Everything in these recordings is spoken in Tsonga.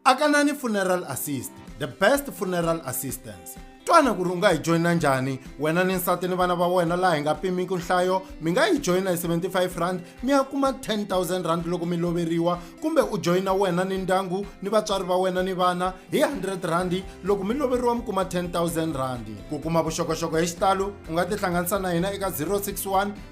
akanani funeral assist the best funeral assistance twana ku ri u nga hi joyina njhani wena ni nsati ni vana va wena laha hi nga pimiki nhlayo mi nga yi joyina hi 75 rand mi ya kuma 10000 rand loko mi loveriwa kumbe u joyina wena ni ndyangu ni vatswari va wena ni vana hi 100 rand loko mi loveriwa mi kuma 10000 rand ku kuma vuxokoxoko hi xitalo u nga tihlanganisa na hina eka 061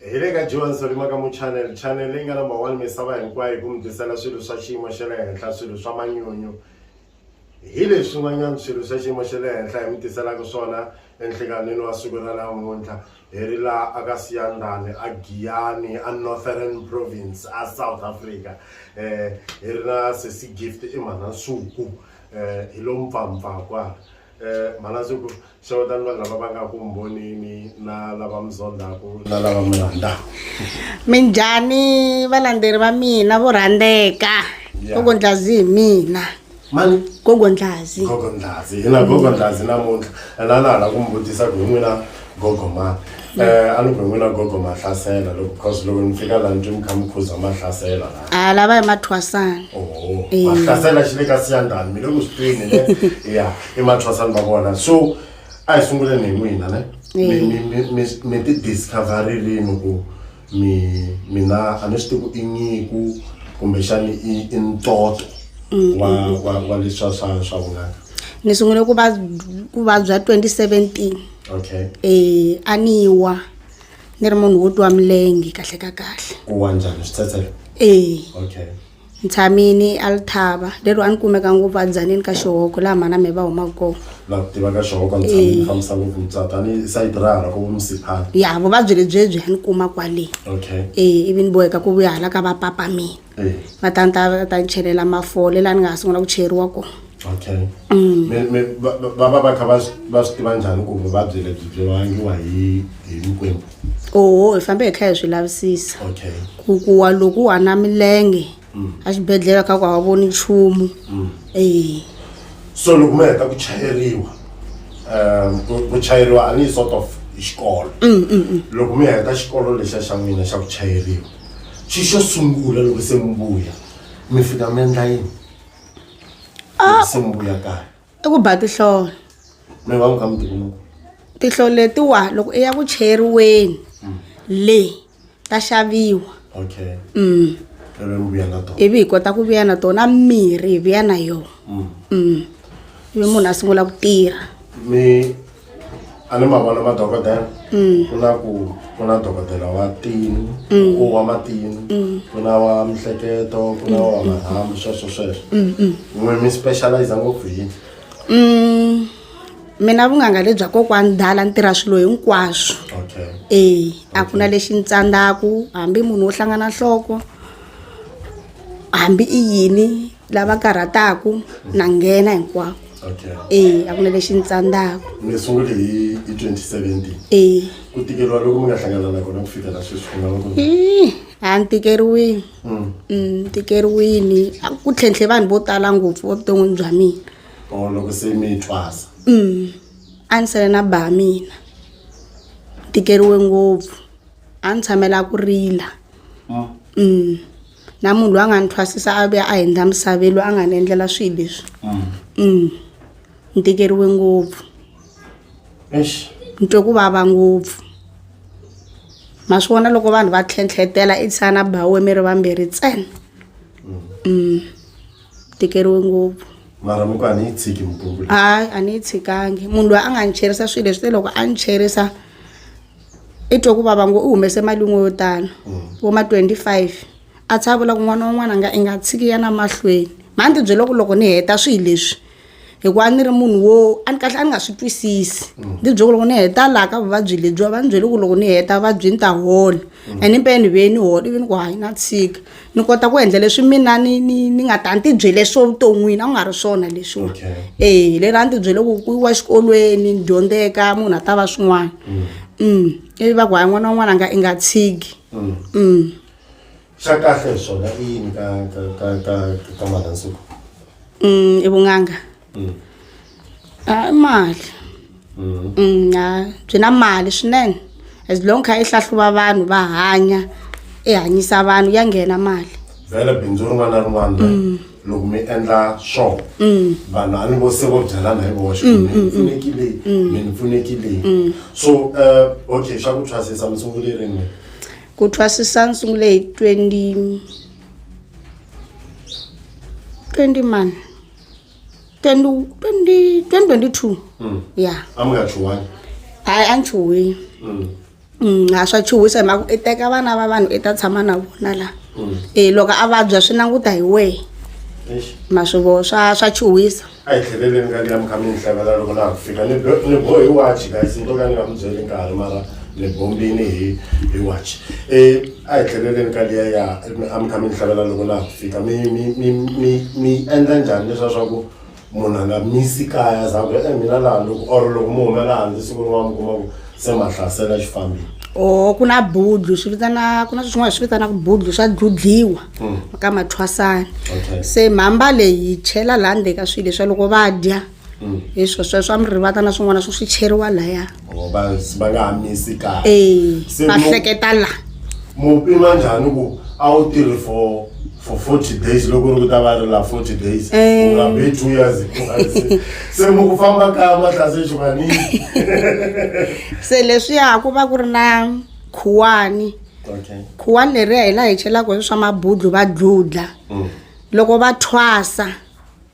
hi le ka joan solima ka mu channel channel leyi nga number one misava hinkwayo hi ku mi tisela swilo swa xiyimo xa le henhla swilo swa manyunyu hi leswi n'wanyana swilo swa xiyimo xa le henhla hi mi tiselaka swona enhlikanini wa siku ra namuntlha hi ri laha aka siyandane a giyani a northern province a south africa um hi ri na sesi gift i mhana nsuku um hi lo mpfampfa kwala Eh, Malazuku, xewetani vanhu lava va nga ku mbhonini na lava mi zondhaku na lava mi rhandaku. minjhani valandzeri va mina vo rhandzeka Ya. gogo ndlazi hi mina Mani? gogo ndlazi Gogo Ndlazi, hi na Gogo Ndlazi namuntlha. Ena na hala ku mi vutisa ku hi n'wina gogo ma um a loko hi n'wina gogo ma hlasela loko because loko ni fika laha ni twi mi kha mi khuza ma hlasela laha a lava hi mathwasana oho Eh. ma hlasela xi le ka siyandani mi le ku swi twini ne ya i mathwasani va vona so a hi sunguleni hi n'wina ne Mi- mi- mi- mi- mi ti discovererini ku mi mina a ni swi tivi ku i nyiku kumbexani i i ntoto wa wa wa leswa swa swa vunanga ni sungule ku va ku vabya 2017 okay eh a ni wa ni ri munhu wo twa milenge kahle ka kahle ku wa njhani switsetselo eh okay Ntshamini, Althaba, leri a ni kumeka ngopfu adzaneni ka xihoko laha mhana me va humaka kona la ku tiva ka xihoko ntshamini fambisa ngopfu mutswari tanihi sayiti ra hala ko vo musiphana ya vuvabyi lebyebyi a ni kuma kwale okay e ivi ni boheka ku vuya hala ka va papa mina eh va ta ni ta va ta ni chelela mafole laha ni nga ha sungula ku cheriwa kona okay mm. me me va va va kha va va swi tiva njhani ku vuvabyi lebyi byi vangiwa hi hi mikwembu oho hi fambe hi kha hi swi lavisisa okay ku ku wa loko wa na milenge mm. a xibedhlele kha ku a voni nchumu mm. eh so loko mi heta ku chayeriwa um ku chayeriwa a ni sort of xikolo mm, mm, mm. loko mi heta xikolo lexa xa n'wina xa ku chayeriwa xi xo sungula loko se mi vuya mi fika mi endla yini Ah. se mi vuya kaya i ku ba tihlolo mi va n'wi ka mutikulu tihlolo letiwa loko i ya ku cheriweni le ta xaviwa okay mm. ivi mi vuya na tona ivi hi kota ku vuya na tona mirhi hi vuya na yona Mm. mm. ivi munhu a sungula ku tirha mi a ni ma vona madokodela mm. ku na ku ku na dokodela wa tini mm. u wa matini mm. ku na wa mihleketo ku na wa marhambu sweswo sweswo n'we mi specialize ngopfu hi mina vunganga lebya kokwani dala ni tirha swilo hinkwaswo e a ku na lexi ni tsandzaku hambi munhu wo hlangana nhloko hambi i yini lava karhataku na nghena hinkwako okay e a ku na lexi ni tsandzaka mi sungule hi hi 2017 e ku tikeriwa loko mi nga hlangana na kona ku fikela sweswi ku nga va ku ri- Ih, a ni tikeriwini Mm. Mm, ni tikeriwini A ku tlhentlhe vanhu vo tala ngopfu evuton'wini bya mina or loko se mi twasa Mm, a ni sele na ba mina Ni tikeriwe ngopfu a ni tshamela ku rila Mm. Mm, na munhu loyi a nga ni thwasisa a vuya a hundza misaveni loyi a nga ni endlela swilo leswi mm. ni tikeriwe ngopfu ni twe ku vava ngopfu ma swi vona loko vanhu va tlhentlhetela i tsana bawe mi ri vambirhi ntsena mm. mm. tikeriwe ngopfu mara muku a ni yi tshiki mupungu hayi a ni yi tshikangi munhu loyi a nga ni cherisa swilo leswi te loko a ni cherisa i twe ku vava ngo u humese mali yin'we yo tano vo ma 25 a tsha a vula ku n'wana wun'wana nga i nga tshiki ya na mahlweni mha ni tibyele ku loko ni heta swilo leswi hikuva ni ri munhu wo a ni kahle a ni nga swi twisisi ni tibyele ku loko ni heta laha ka vuvabyi lebyiwa va ni byele ku loko ni heta vuvabyi ni ta hola and impela ni vuye ni hola ivi ni ku hayi na tshika ni kota ku endla leswi mina ni ni ni nga ta ni tibyele swo vuton'wini a ku nga ri swona leswiwa e leri a ni tibyele ku ku yiwa xikolweni ni dyondzeka munhu a ta va swin'wana um ivi va ku hayi n'wana wan'wana a nga i nga tshiki um xa kahle hi swona i yini ka ka ka ka ka manhansuku um i vun'anga hayi mali Mm, ha, byi na mali swinene as long kha yi hlahluva vanhu va hanya i hanyisa vanhu ya nghena mali vhele bindzu rin'wana na rin'wana Mm. loko mi endla swo Mm. vanhu a ni vo se vo byelana hi voxe Mm, mm, mm. pfunekile Mm. mi ni pfunekile Mm. so eh, okay xa ku thwasisa mi sungule rini ku thwasisa ni sungule hi 20 20 mani 20 20 2022 ya a mi nga chuwani hayi a ni chuhile Mm. Mm, a swa chuhisa hi mhaka i teka vana va vanhu i ta tshama na vona la Mm. e loko a vabya swi languta hi wehe Eish. ma swi vo swa swa chuhisa a hi tlheleleni ka liya mi kha mi ni hlekela loko na ha ku fika ni bo- ni bohi wachi guys ni to ka ni nga mi byeli nkarhi mara ni bombini hi hi wachi um a hi tlheleleni ka liya ya a mi kha mi ni hlavelela loko na ha ku fika mi mi mi mi mi endla njhani leswa swa ku munhu a nga misi kaya za ku e mina laha loko or loko mi humela handle siku rin'wana mi kuma ku se ma hlasela xifambini o ku na budlu swi vitana ku na swin'wana swi vitanaka budlu swa dludliwa ka mathwasana Okay. se mhamba leyi yi chela laha ndzeni ka swilo leswa loko va dya Mm. hi swo swo swa mirivata na swin'wana swo swi cheriwa laya Oh, va va nga ha misi kahle ee Se va mo- hleketa la mu pima njhani ku a wu tirhi for for 40 days loko ri ku ta va ri la 40 days Eh. u nga be two years Se- se mu ku famba kaya mahlase xivanini se leswiya ku va ku ri na khuwani okay khuwani leriya hi laha hi chelaka hi swa mabudlu va dludla Mm. loko va thwasa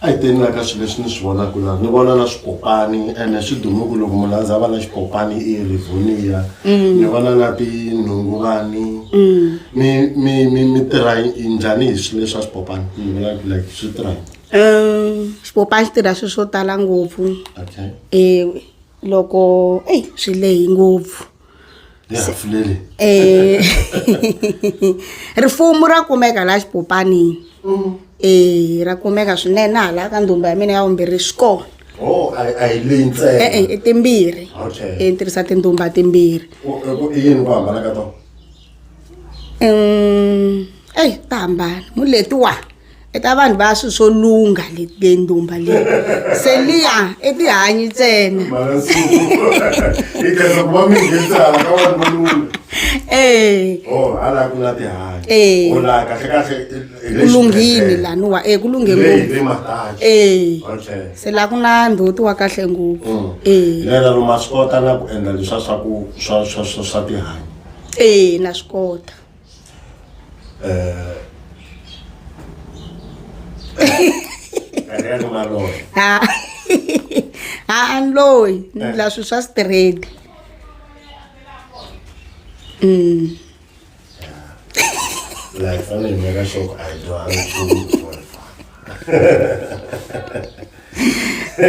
a hi teni la ka swilo leswi ni swi vonaka la ni vona na swipopani ene swi dumuku loko munhu a ndza va na xipopani i rivonia mm. ni vona na tinhunguvani mm. mi mi mi mi tirha njhani hi swilo leswa swipopani ni vona like swi tirha um xipopani xi tirha swilo swo tala ngopfu okay. e loko eyi swi lehi ngopfu Eh. rifumu ra kumeka laha xipopanini mm. e ra kumeka swinene na hala ka ndhumba ya mina ya vumbirhi swi kona oh, e-e i timbirhi i tirhisa tindhumba timbirhi um eyi ta hambana mu letiwa i ta vanhu va swilo swo lungha letindumba leyi se liya i tihanyi ntsena ee ku lunghini laniwa e ku lunghe ngopfu ee se laha ku na ndhoti wa kahle ngopfu ee eya na swi kota ha ha ni loyi ni la swilo swa straight mm. like, I mean,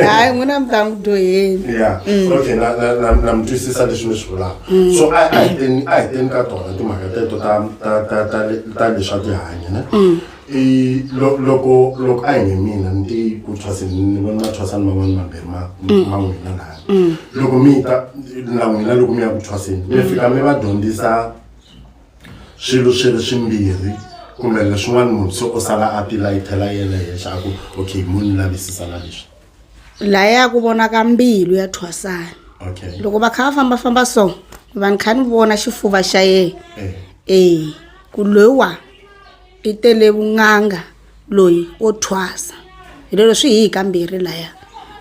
hayi n'wina mi ta n'wi dyoheni ya Mm. okay na na na na mi twisisa leswi mi swi vulaka Mm. so a a hi teni a hi teni ka tona timhaka teto ta ta ta ta le- ta leswa tihanyi ne Mm. i lo- loko loko a hi nge mina ni ti ku thwasini ni vona mathwasani man'wani mambirhi ma Mm. ma n'wina laya Mm. loko mi ta na n'wina loko mi ya ku thwasini mi fika mi va dyondzisa swilo swi ri swimbirhi kumbe leswin'wana munhu se o sala a tilayithela yena henhla a ku okay mo ni lavisisa na leswi laha ya ku vona ka mbilu ya thwasana okay loko va kha va fambafamba so va ni kha ni vona xifuva xa yena eh ee ku loyiwa i tele vun'anga loyi wo thwasa hi lero swi hi hi kambirhi laya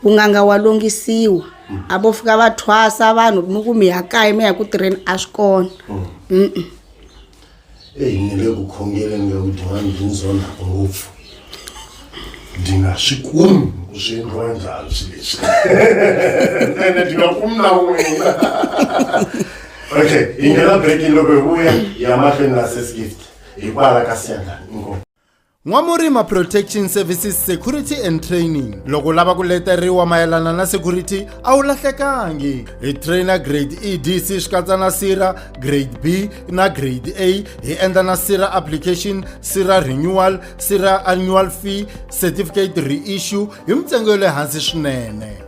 ku nganga wa longisiwa a vo fika va thwasa vanhu mi ku mi ya kaya mi ya ku tirheni a swi kona Mm-mm. eyi ni le ku khongeleni nga ku din'wana byi ndzi onhaka ngopfu ndi nga swi kumi ku swi endliwa njhani swi leswi ene ndi nga kumi na wena okay hi nghena breaking loko hi vuya ya mahlweni na sesgift hikwalaho ka siyandlani inkomu N'wamurima Protection Services Security and Training loko lava ku leteriwa mayelana na security a wu lahlekangi hi trainer grade EDC swi katsa na sira grade B na grade A hi endla na sira application sira renewal sira annual fee certificate reissue hi mintsengo ya le hansi swinene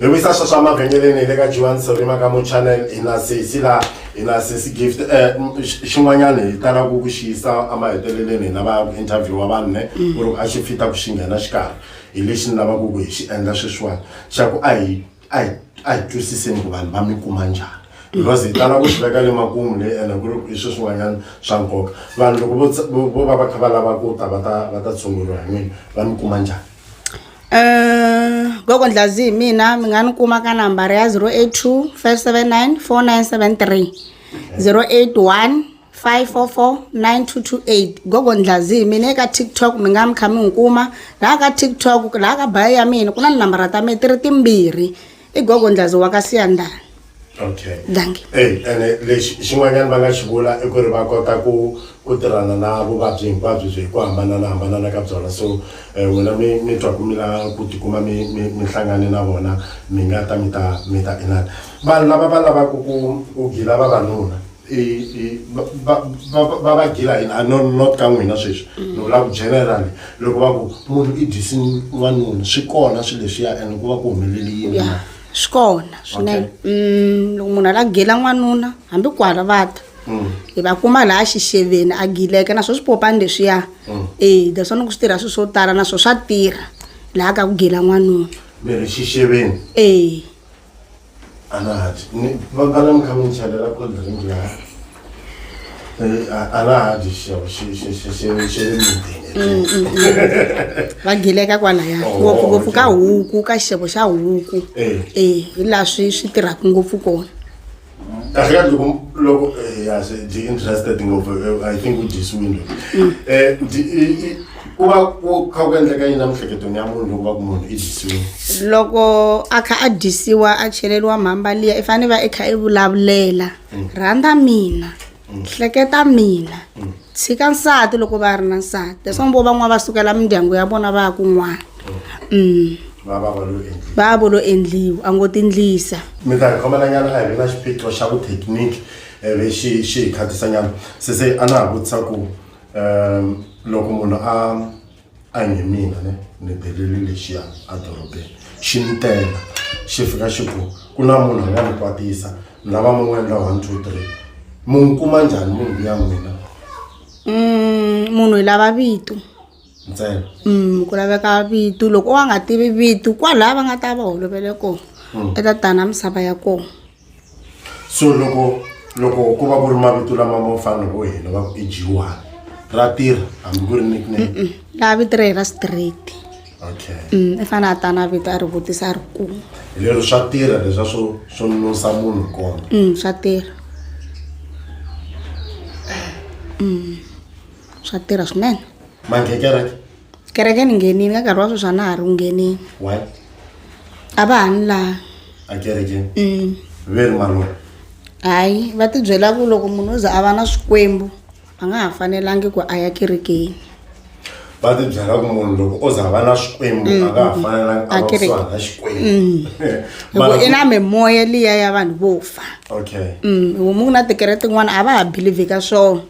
hi wisa swa swa mavhengeleni hi le ka jiwani sorima ka muchannel hi na sesi la hi na sesi gift um xin'wanyana hi tala ku ku xiyisa emaheteleleni hi lava ku interview wa vanhu ne mm. ku ri a xi fita ku xi nghena xikarhi hi lexi ni lavaka ku hi xi endla sweswiwani xa ku a hi a hi a hi twisiseni ku vanhu va mi kuma njhani because hi tala ku swi veka le makumu leyi ene ku ri hi swi swin'wanyana swa nkoka vanhu loko vo va va kha va lava ku ta va ta va ta tshunguriwa hi n'wini va mi kuma njhani gogo ndlazi hi mina mi nga ni kuma ka nambara ya 082 579 4973 081 5449228 gogo ndlazi hi mina eka tiktok mi nga mi kha mi n'wi kuma laha ka tiktok laha ka bayo ya mina ku na tinambara ta mina ti ri timbirhi i gogo ndlazi wa ka siyandani okay danki eyi ene lexi xin'wanyana va nga xi vula i ku ri va kota ku ku tirhana na vuvabyi hinkwabyo byi hi ku hambananahambanana ka byona so um n'wina mi mi twa ku mi la ku tikuma mi mi mi hlangane na vona mi nga ta mi ta mi ta inana vanhu lava va lavaka ku ku gila vavanuna va va gila yini a no not ka n'wina sweswi mm. ni vula ku general loko va ku munhu i dyisi n'wanuna swi kona swilo leswiya and ku va ku humeleli yini ya swi kona swinene mm, loko munhu a la gila n'wanuna hambi ku hala va ta mm. hi va kuma laha xixeveni a gileke naswo swi popani leswiya e that's one ku swi tirha swilo swo tala naswo swa tirha laha ka ku gila n'wanuna mi ri xixeveni e Anahadi. Ni vambala mi kha mi chalela cold drink laha. Eh, a- Anahadi xiyabo xi xi xi xi xi le mintini. va gileka kwalaya Oh, ngopfungopfu ka okay. huku ka xixevo xa huku Eh. e hi laha swi swi tirhaka ngopfu kona kahle kahle loko loko eh, ya se ndi interested ngopfu eh, i think u dyisiwini loyi um ku va ku kha ku endleka yini emiehleketweni ya munhu loko va ku munhu i dyisiwini loko a kha a dyisiwa a cheleriwa mhamba liya i fanele va i kha i vulavulela rhandza mina hleketa mina tshika nsati loko va ri na nsati leswaku vo van'wana va sukela mindyangu ya vona va ya kun'wana um va vo lo endliwa a ngo tindlisa mi ta hi khomelanyana a hi ri na xiphiqo xa vuthekiniki eh, lexi xi hi khatisanyana sese a na ha vutisa ku um loko munhu a a hi mina ne ni beleli lexiya edorobeni xi ni tela xi fika xi ku ku na munhu a nga ni kwatisa ni lava mi n'wi endla one two three mi n'wi kuma njhani munhu luya n'wina Mm, munhu hi lava vito ntsena Mm, ku laveka vito loko wa nga tivi vito kwalaha va nga ta va holovele kona Mm. i ta tana misava ya kona so loko loko ku va ku ri mavito lama ma fana vo hina va ku i jiwani ra tirha hambi ku ri nickname laha vito ra hina straight okay mm, i fanele a ta na vito a ri vutisa a ri kuma hi lero swa tirha leswa swo swo nonosa munhu kona mm, swa tirha mm, swa tirha swinene mangekereke kereke ni nghenini ka nkarhi wa sweswi a na ha ri ku ngheneni why a va ha ni laha a kerekeni Mm. ve ri malunga hayi va tibyela ku loko munhu o za a va na swikwembu a nga ha fanelangi ku a ya kerekeni va ti byela ku munhu loko o za va na xikwembu a nga ha fanelangi a va Akereke. kusuhana na xikwembu hikuva Mara i na ku- mimoya liya ya vanhu vo fa okay Mm, homu ku na tikereke tin'wana a va ha believe ka swona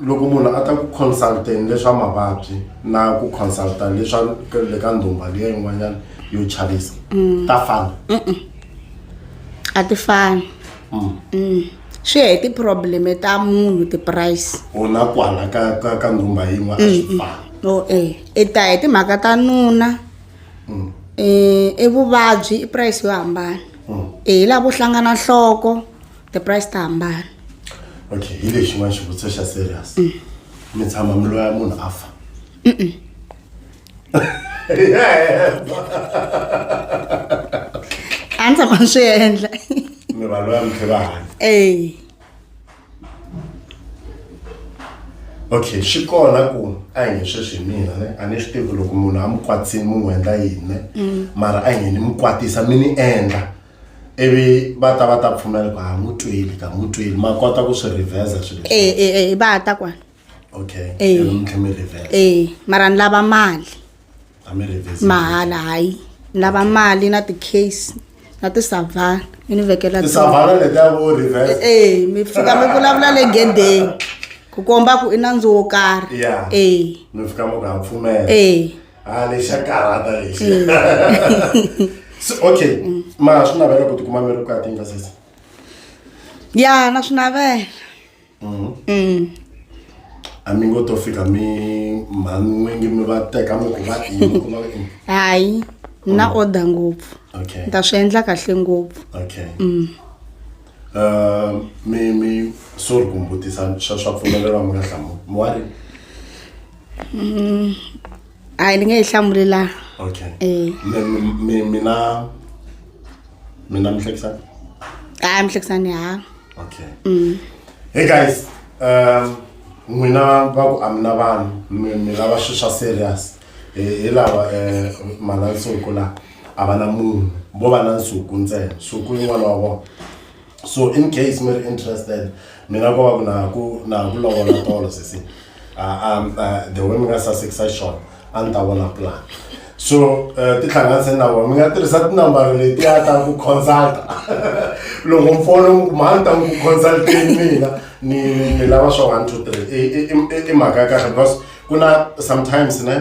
loko munhu a ta ku consult-eni leswa mavabyi na ku consult-a leswa le ka ndhumba liya yin'wanyana yo chavisa mm. ta fana a ti fani mm. mm. swi ya hi tiprobleme ta munhu tiprice ona kwala ka ka ka ndhumba yin'we a swi mm, fani o e i ta hi timhaka ta nuna um i vuvabyi i price yo hambana e hi lavo hlangana nhloko the price ta hambana okay hi lexi n'wana xivutiso xa serious mm. mi tshama mi loya munhu a fa a ni tshama ni swi endla mi va loya mi tlhe va hanya e okay swi kona ku a hi nge sweswi hi mina ne a ni swi tivi loko munhu a mi kwatsini mi n'wi endla yini ne mm. mara a hi nge ni mi kwatisa mi ni endla ivi va ta va ta pfumela ku ha n'wi twile ka n'wi twile ma kota ku swi revheza swilo e e e va ta kwala okay tlhe mi revheza e mara ni lava mali a mi revheza mahala hayi ni lava mali na ti-case na tisavana mi ni vekela tisavana leti a vo revheza e mi fika mi vulavula le gedeni ku komba ku i nandzu wo karhi e mi fika mi ku ha pfumela e ha lexi xa karhata lexi mm. so okay mm. ma swi navela ku tikuma mi ri vukati nga sesi ya na swi navela mm-hmm. mm. a mi ngo to fika mi mhan'wingi mi va teka mi ku va ini ku va ini hayi na order ngopfu okay ta swi endla kahle ngopfu okay mm. uh, mi mi sorry ku mbutisa swa swa pfumelelwa mi nga hlamu mi wa ri a ni nge yi hlamulela okay eh mi mi- mi mina mina mihlekisani a mihlekisani ha okay Mm. hey guys um n'wina va ku amina vanhu mi mi lava swi swa serious hi hi lava um manansuku la a va na munhu vo va na nsuku ntsena nsuku yin'wana wa vona so in case mi ri interested mi nga ko va ku na ku na ku lovola tolo sesi ah, um, ah, the way mi nga sasekisa xona a ni ta vona plan so eh, tihlanganise na vona mi nga tirhisa tinambara leti a ta ku consulta loko mfolo mi kuma a ni ta ku consulteni mina ni ni lava swa one two three I- i- i- i- i mhaka ya kahle because ku na sometimes ne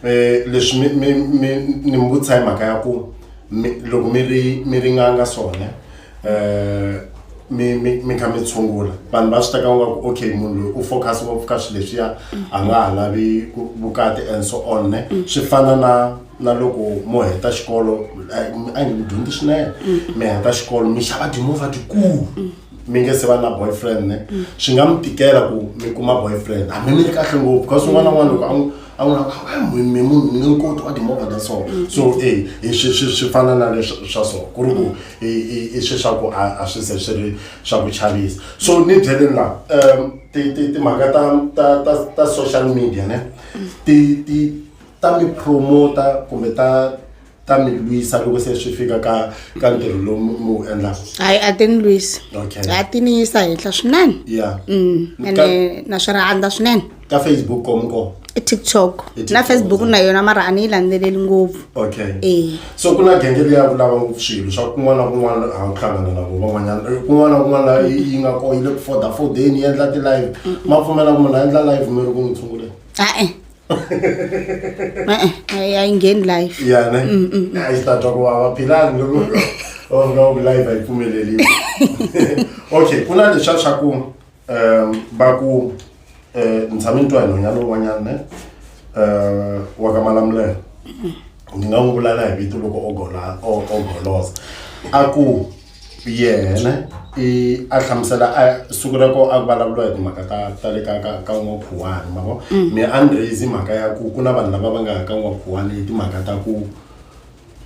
eh, leswi mi- mi- mi- ni mi vutisa hi mhaka ya ku mi- loko mi ri mi ringanga swona um mi mi mi kha mi tshungula vanhu va swi teka nga ku okay munhu loyi u focus ngopfu ka swilo leswiya a nga ha lavi vukati and so on ne swi fana na na loko mo heta xikolo a nge mi dyondzi swinene mi heta xikolo mi xava timovha tikulu mi nge se va na boyfriend ne swi nga mi tikela ku mi kuma boyfriend hambi mi ri kahle ngopfu because un'wana na un'wana loko a a wu ri mi munhu ni nkoti wa timovha ta so so e swi swi swi fana na leswa swa so ku ri ku i swi swa ku a swi se swi ri swa ku chavisa so ni byeleni laha um timhaka ta ta ta ta social media ne ti ti ta mi promota kumbe ta ta mi lwisa loko se swi fika ka ka ntirho lowu mi mi wu endlaka hayi a ti ni lwisi Okay. a ti ni yisa henhla swinene ya Mm, Ka- ene na swi rhandza swinene ka facebook komu kona i tiktok I TikTok, na facebook yeah. na yona mara a ni yi landzeleli ngopfu okay Eh. so ku na genge leyi ya ku lava ngopfu swilo swa kun'wana na kun'wana a wu hlangana na vo van'wanyana Eh, kun'wana na kun'wana laha yi yi nga ko yi le ku foda fodeni yi endla ti-live ma pfumela ku munhu a endla live mi ri ku n'wi tshunguleni a-e e-e a yi- a yi ngheni live ya ne Mm, mm, mm. a yi ta twa ku vava philani loko va fika va ku live a yi pfumeleliwi okay ku na lexa xa ku um va ku um ni tshame ni twa hi nhonyana lowun'wanyana ne um wa ka malamulelo ni nga n'wi vula na hi vito loko o gola- o- o golosa a ku yena i a hlamusela a siku ra ko a ku vulavuriwa hi timhaka ta ta le ka ka ka n'wakhuwani ma vo me a ni raise mhaka ya ku ku na vanhu lava va nga ya ka n'wakhuwani hi timhaka ta ku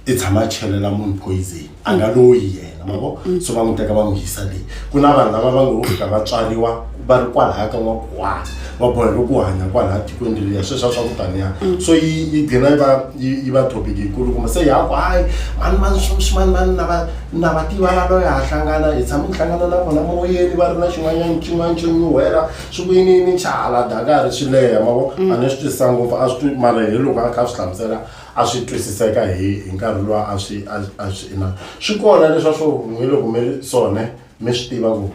i tshama a chelela munhu poison a nga loyi yena ma vo so va n'wi teka va n'wi yisa leyi ku na vanhu lava va ngo fika va tswariwa va ri kwalaha ka n'wakuwana va boheka ku hanya kwalaha tikweni leriya sweswa swa ku taniya mm. so yi yi gina yi va yi va topic yikulu kumbe se yaku hayi mani mani swimani mani na va na va tiva la loyi ha hlangana hi tshama ni hlangana na vona moyeni va ri na xin'wanyana xin'wana xo nyuhela swi ku yini yini xa hala dakari swi leha mavo mm. a ni swi twisisa ngopfu a swi twi mara hi loko a kha a swi hlamusela a swi twisiseka hi hi nkarhi lowa a swi a swi ina swi kona leswa swo hi loko mi ri sone mi swi tiva ku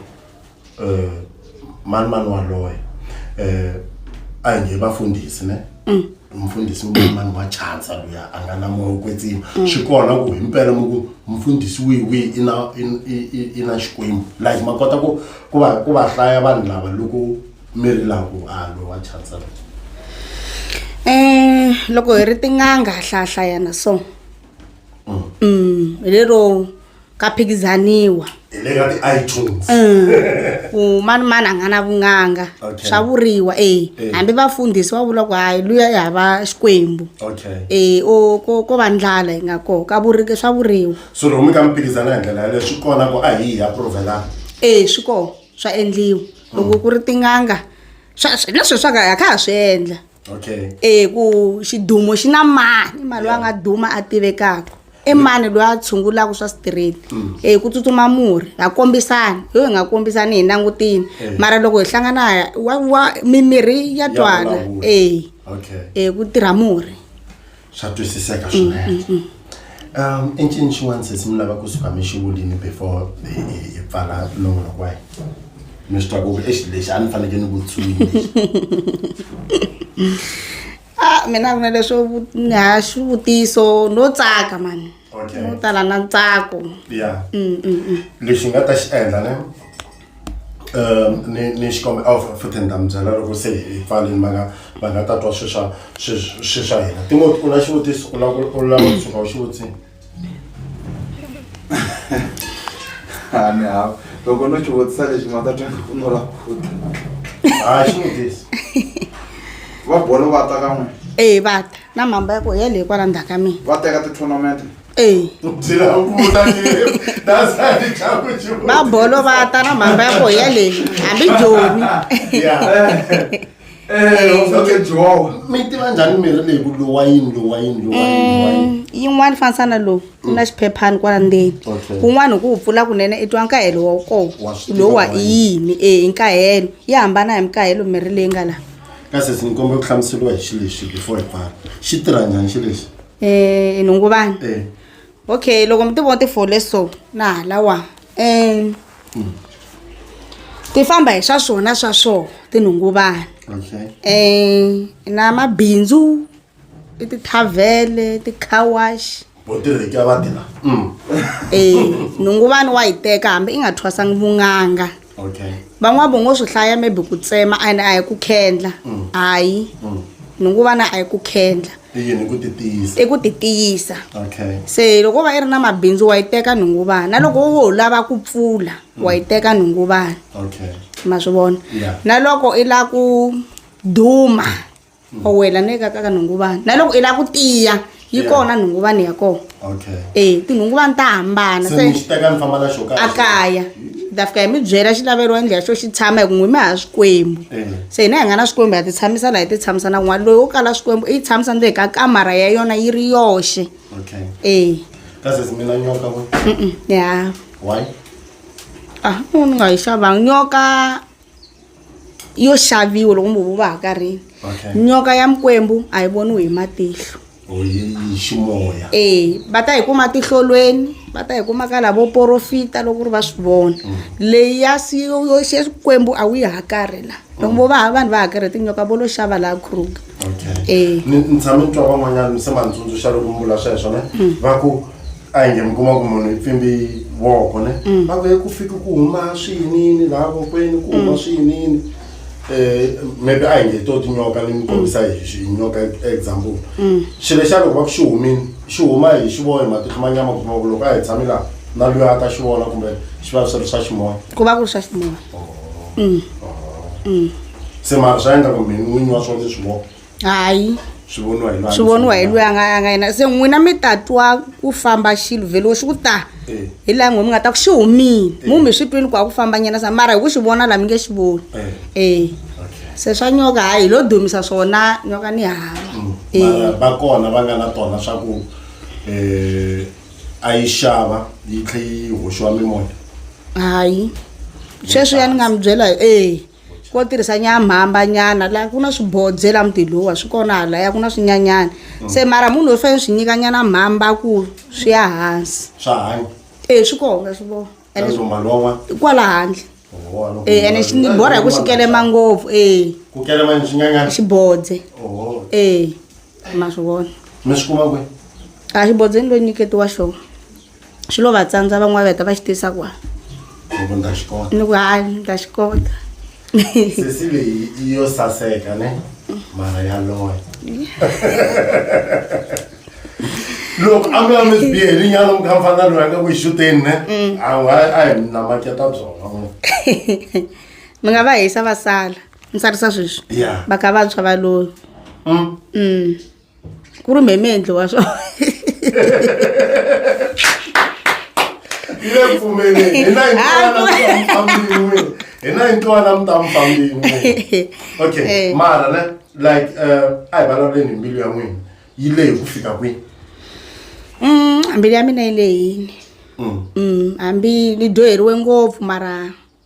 eh mani mani waloye eh ayi nje bafundisi ne mm. mfundisi umani wa chansa luya a nga na moya wo kwetsima mm. swi kona ku hi mpela mi ku mfundisi wihi wihi i na i na xikwembu like ma kota ku ku va ku va hlaya vanhu lava loko mi ri laha ku a loyi wa chansa loyi um loko hi ri tin'anga ha hlahlayana so um hi lero ka phikizaniwa hi le ka ti-itunes ku mani mani a nga na vun'anga Okay. swa vuriwa e Eh. hambi vafundhisi va vula ku hayi luya i hava xikwembu okay e o ko ko va ndlala yi nga koho ka vurike swa vuriwa so loko mi ka mi phikizana hi ndlela yaleyo swi kona ku a hi hi approvelana e swi koho swa endliwa loko ku ri tin'anga swa swi- na sweswi swa ka ha kha ha swi endla okay eh ku xidumo xi na mani mali loyi a nga duma a tivekaka i mani loyi a tshungulaka swa straight mm. eh ku tsutsuma murhi ha kombisani yo hi nga kombisani hi langutini eh. mara loko hi hlangana wa wa mimirhi ya twana eh okay eh ku tirha murhi swa twisiseka swinene um i ncini xin'wana sesi mi lava ku suka mi xi vulini before hi pfala nongonoko wa hina mi swi twa ku exi lexi a ni fanekele ni vutswini a mina vona leswo ha xivutiso no tsaka mani no tala na ntsako ya lexi nga ta xi endla ne ni ni xikombelo a futhi ni ta mi byela loko se hi pfalini va nga va nga ta twa swilo swa swilo swilo swa hina timoti u na xivutiso u lava ku u lava ku tshuka u xi vutisile a ni hava loko no xi vutisa lexi ma ta twa ku no la khuta a xi vutisi va bolo va ta ka n'we ee va ta na mhamba ya ku ya leyi kwala ndzhaku ka mina va teka ti-tournament Ee. va bolo va ta na mhaka ya koho yaleyi hambi jomi mi tiva njhani mirhi leyi ku lowa yini lowa yini lowa yini lowa yini Mm, yin'wana fanisana lowu ku na xiphephani kwala ndzeni Okay. kun'wana hi ku wu pfula kunene i twa nkahelo wa koho Wa swi tiva lowa wa i yini e i nkahelo yi hambana hi mikahelo mirhi leyi nga laha kasi ndzi kombela ku hlamuseriwa hi xilexi before hi pfala xi tirha njhani xilexi um nhungu vanhu Eh. okay loko mi ti vona ti fole so na halawa um ti famba hi swa swona swa swona tinhungu vanhu Okay. um na mabindzu i tithavhele tikhawaxi Bo tirhi ka va tirha. Mm. um nhungu vanhu wa yi teka hambi i nga thwasangi vunganga okay van'wana vo ngo swi hlaya maybe ku tsema and a hi ku khendla mm. hayi mm. ni ngo vana a hi ku khendla i ku ti tiyisa se loko va i ri na mabindzu wa yi teka nhungu vana na loko wo lava ku pfula mm. wa yi teka nhungu vana ma swi vona na loko i la ku duma o wela ni ka ka nhunguvani na loko i lava ku tiya yi Yeah. kona nhunguvani ya kona okay e tinhunguvani ta hambana se ni xi teka ni famba na xo a kaya ni ta fika hi mi byela xilavelo endla xo xi tshama hi ku n'wi mi ha swikwembu Eh. se hina hi nga na swikwembu ha ti tshamisa laha hi ti tshamisa na kun'wana loyi wo kala swikwembu i yi tshamisa ndzeni ka kamara ya yona yi ri yoxe okay e ka sesi mina nyoka ku ya why ah ni nga yi xavanga nyoka yo xaviwa loko mi huva ha karhini Okay. nyoka ya mikwembu a yi voniwi hi matihlo Oh, yi yi ximoya. e va ta yi kuma tihlolweni va ta yi kuma ka lavo porofita loko ri va swi vona leyi ya si- yo yo xe xikwembu a wu yi hakarhi la loko vo va ha vanhu va hakarhe tinyoka vo lo xava laha kruger Okay. Eh. Ni ni tshame ni twa van'wanyana mi se manitsundzuxa loko mi vula sweswo ne va ku a inge mi kuma ku munhu i pfimbi voko ne mm. va ku ku fika ku huma swiyinini laha vokweni ku huma mm. swiyinini um maybe a hi nge to tinyoka ni mi kombisa mm. hi hi nyoka example xilo xa loko va ku xi humini xi huma hi xi vohi matihlo ma nyama kuma ku loko a hi tshami laha na loyi a ta xi vona kumbe xi va swi ri swa ximoya ku va ku ri swa ximoya oh. Oh. se mara swa endla ku mini n'winyi wa swona leswi voko hayi swi voniwa hi loyi a swi voniwa hi loyi a nga a nga yena se n'wina mi ta twa ku famba xilo vhelo xi ku ta Eh. hi laha n'we mi nga ta ku xi humile mu mi swi twini ku a ku famba nyana sa mara hi ku xi vona laha mi nge xi voni Eh. e Okay. se swa nyoka hayi hi lo dumisa swona nyoka ni hava Mm. Eh. Mara va kona va nga na tona swa ku eh, a yi xava yi tlhe yi hoxiwa mimoya hayi sweswi ya ni nga mi byela e ko tirhisa nyamhamba nyana la ku na swibodze la muti lowa swi kona halaya ku na swinyanyana mm. se mara munhu loyi fanele swi nyika nyana mhamba ku swi ya hansi swa hanya e swi kona swi vona kwala handle e ene xi ni borha hi ku xi kelema ngopfu e xi bodze e ma swi vona a xi bodzeni loyi nyiketiwa xona swi lo va tsandza van'wana va heta va xi tisa kwa ni ku ndza xi kota ni ku hayi ni ta xi kota sesi leyi i yo saseka ne mara ya loya loko a mi a mi bihe hi rinyalo mi kha mi fana loyi a nga ku xuteni ne a wa a hi mi namaketa byona n'we mi nga va hisa va sala ni tsarisa sweswi Yeah. va ka vantshwa va loyo Mm. mm. ku ri mheme endliwa swo yi le ku pfumeleni hi na yintwanamutambin'wini hi na yintwana mutampambin'wini okay eh. mara ne like eh, a hi vulavuleni hi mbilu ya n'wina yi leyi ku fika kwini mm, mbilu ya mina yi leyini mm. mm, hambi ni dyoheriwe ngopfu mara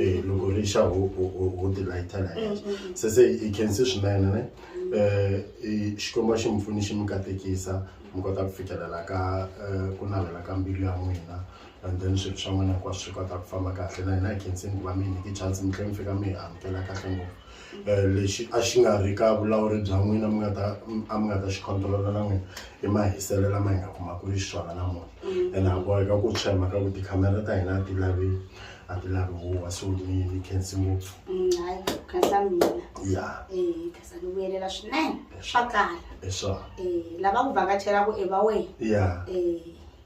eh loko ri xa ho ho ho ti lighter la henhla se se i khense swinene ne eh i- xikwembu a xi mi pfuni xi mi katekisa mi kota ku fikelela ka eh, ku navela ka mbilu ya n'wina and then swilo swa n'wina hinkwaswo swi kota ku famba kahle na hina hi khenseni ku va mi hi nyike chance mi tlhe mi fika mi hi amukela kahle ngopfu lexi a xi nga ri ka vulawuri bya n'wina mi nga ta a mi nga ta xi control-a na n'wina i mahiselo lama hi nga kumaka xiswona namuntlha ene ha boheka ku tshwa hi mhaka ku tikhamera ta hina a ti lavi a ti lavi huwa so ni ni khensi ngopfu ya swinene swa kala lava ku vhakachelaku i va wena ya